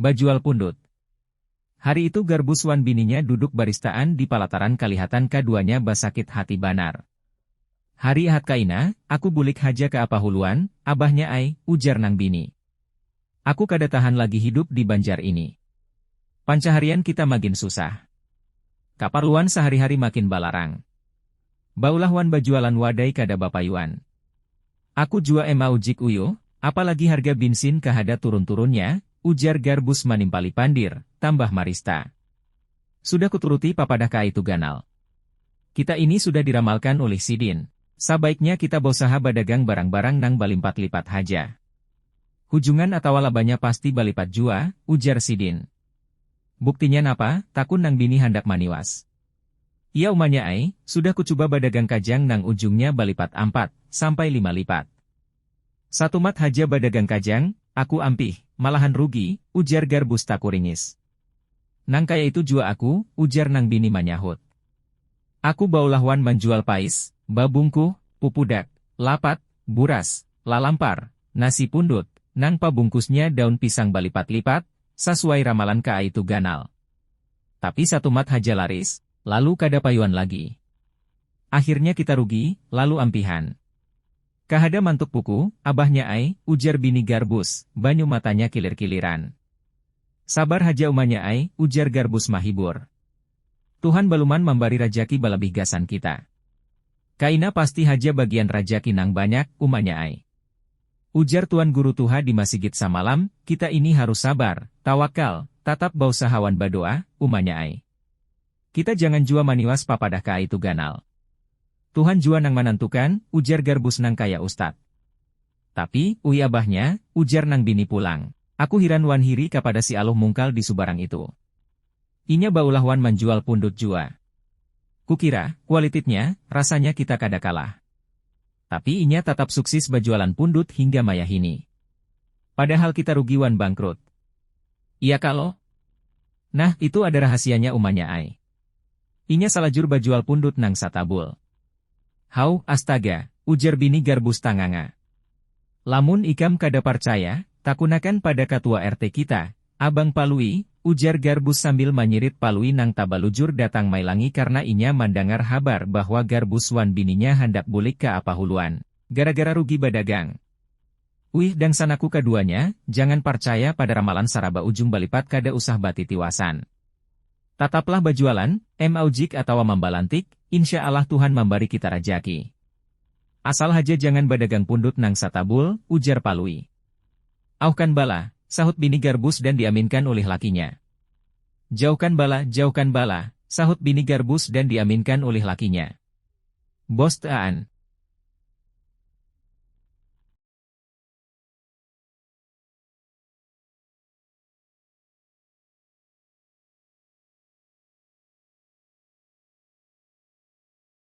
Bajual pundut. Hari itu Garbus wan bininya duduk baristaan di palataran kalihatan kaduanya basakit hati banar. Hari Ahad kaina, aku bulik haja ka apa huluan, abahnya ai, ujar nang bini. Aku kada tahan lagi hidup di Banjar ini. Pancaharian kita magin susah. Kaparluan sahari-hari makin balarang. Baulah wan bajualan wadai kada bapayuan. Aku jua em aujik uyuh, apalagi harga binsin kahada turun-turunnya, ujar Garbus manimpali pandir, tambah marista. Sudah kuturuti papadah kaaitu ganal. Kita ini sudah diramalkan ulih sidin, sabaiknya kita bausaha badagang barang-barang nang balimpat-lipat haja. Hujungan atawa labanya pasti balipat jua, ujar sidin. Buktinya napa? takun nang bini handak maniwas. Iya umanya ai, sudah kucuba badagang kajang nang ujungnya balipat ampat sampai lima lipat. Satumat haja badagang kajang, aku ampih, malahan rugi, ujar Garbus takuringis. Nang kaya itu jua aku, ujar nang bini manyahut. Aku baulah wan manjual pais, babungkuh, pupudak, lapat, buras, lalampar, nasi pundut, nang pabungkusnya daun pisang balipat-lipat, sasuai ramalan kaaitu ganal. Tapi satumat haja laris, lalu kada payuan lagi. Akhirnya kita rugi, lalu ampihan. Kahada mantuk puku, abahnya ai, ujar bini Garbus, banyu matanya kilir-kiliran. Sabar haja umanya ai, ujar Garbus mahibur. Tuhan baluman mambari rajaki balabih gasan kita. Kaina pasti haja bagian rajaki nang banyak, umanya ai. Ujar Tuan Guru Tuha di masigit samalam, kita ini harus sabar, tawakal, tatap bausaha wan badoa, umanya ai. Kita jangan jua maniwas papadah ka ai tu ganal. Tuhan jua nang manantukan, ujar Garbus nang kaya ustad. Tapi, ui abahnya, ujar nang bini pulang. Aku hiran wan hiri kapada si Aluh Mungkal di subarang itu. Inya baulah wan manjual pundut jua. Kukira, kualititnya, rasanya kita kada kalah. Tapi inya tatap suksis bajualan pundut hingga mayahini. Padahal kita rugi wan bangkrut. Iya ka lo? Nah, itu ada rahasianya umanya ai. Inya salajur bajual pundut nang satabul. Hauh, astaga, ujar bini Garbus tanganga. Lamun ikam kada parcaya, takunakan pada katua RT kita, Abang Palui, ujar Garbus sambil manyirit Palui nang tabalujur datang mailangi karna inya mandangar habar bahwa Garbus wan bininya handak bulik ka Apahuluan, gara-gara rugi badagang. Uih dangsanaku kaduanya, jangan parcaya pada ramalan saraba ujung balipat kada usah batitiwasan. Tataplah bajualan, maujik atawa mambalantik, insya alah Tuhan mambari kita rajaki. Asal haja jangan badagang pundut nang satabul, ujar Palui. Auhkan bala, sahut bini Garbus dan diaminkan ulih lakinya. Jauhkan bala, jauhkan bala, sahut bini Garbus dan diaminkan ulih lakinya. Bost aan.